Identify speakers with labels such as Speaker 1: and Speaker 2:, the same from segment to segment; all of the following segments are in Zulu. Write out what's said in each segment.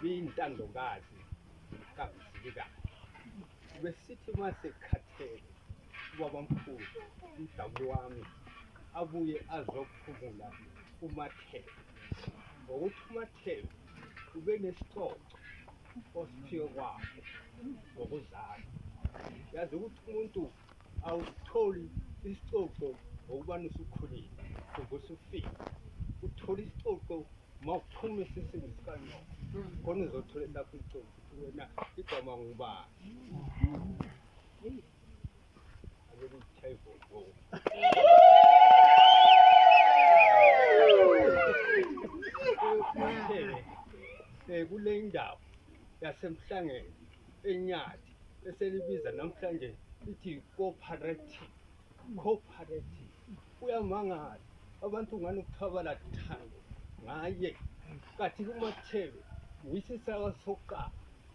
Speaker 1: Biyintandokazi kaMzilikazi. Besithi uma sekhathele ubabamkhulu umdabuli wami abuye azophumula uMathebe ngokuthi uMathebe ube nesicoco osiphiwe kwakhe ngokuzala. Yazi ukuthi umuntu Awusitholi isicoco ngokubani usukhulile uvuka usufika uthole isicoco uma uphuma esisini sikanyoka khona uzothola elakho icoco wena igama ngubani um kule ndawo yasemhlangeni enyathi eselibiza namhlanje lithi cooperative cooperative uyamangala abantu ngani ukuthabala thando ngaye kathi kumathebe yisisawa sokuqala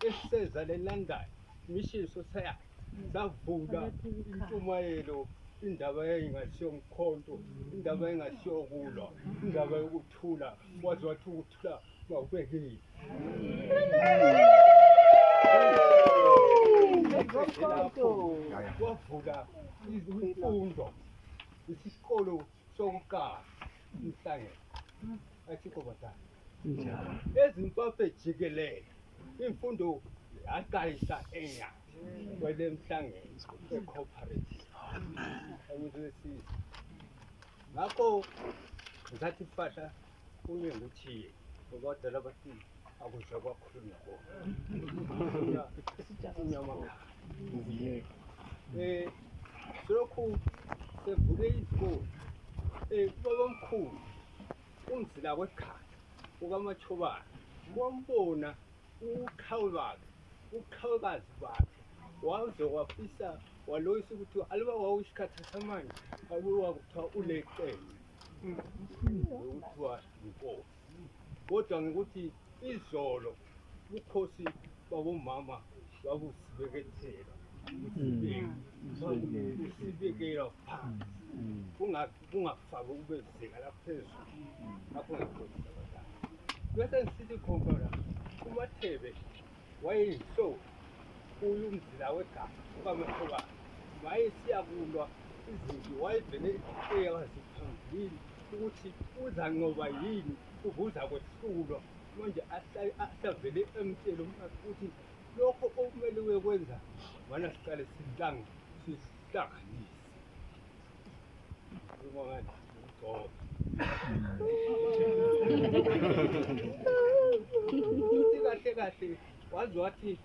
Speaker 1: esiseza lelandayo mission society savula intshumayelo indaba yayingasiyo mkhonto indaba yayingasiyo kulwa indaba yokuthula waze wathi Kwavula imfundo isikolo sokuqala inhlangene athikho bathatha ezimbabwe jikelele imfundo yaqalisa enya kwele mhlangene ecooperative angizwesisi ngakho ngisathi fahla Kunye ukuthi ubadala bathi akudla kwakhulunywa kona. Inyama ngiyeke. Eh lokhu sevule izikole. Eh baba mkhulu umzila wekhaya ukamachobana wambona uqhawe bakhe uqhawekazi bakhe waze wafisa waloyisa ukuthi aliba wawu isikhathi samanje abuwa kuthiwa ulecele Kuthiwa inkosi. Kodwa ngokuthi izolo ubukhosi babomama babusibekethela. Usibekela phansi. Kungafaki kube zinga laphezulu. Lapho ngikhosi abadala. Bese ngisithi khona kumathebe wayeyinhloli kuyo umzila wegama ukaMakhobane wayesiya kulwa izinto wayevele eyazi phambilini ukuthi uzanqoba yini uvuza kwehlulwa manje asavele emtshele umfazi ukuthi lokho okumele uyekwenza wana siqale sihlanga sihlanganise kahle kahle wazi wathi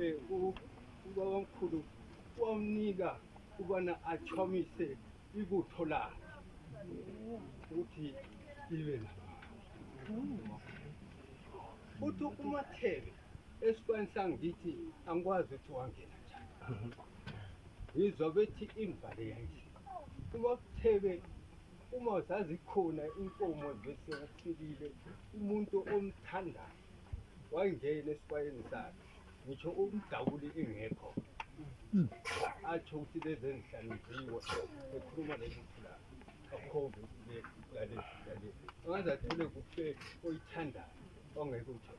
Speaker 1: eh, u- ubabamkhulu wamnika ukubana achomise ibutho lakhe ukuthi libe na futhi umathebe Esikwani sami ngithi angikwazi ukuthi wangena njani. Ngizwa bethi imvale yanje. Uma kuthebe uma zazikhona inkomo bese ufikile umuntu omthandayo wayingena esibayeni sakhe ngisho umdawuli engekho atsho ukuthi lezi enzihlaniziwe ekhuluma leli phula akhombe ukuthi le lale lale angaze athole kufe oyithandayo ongeke uthole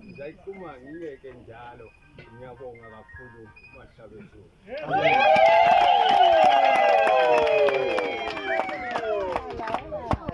Speaker 1: ngiyayiquma ngiyeke njalo ngiyabonga kakhulu mahlabezulu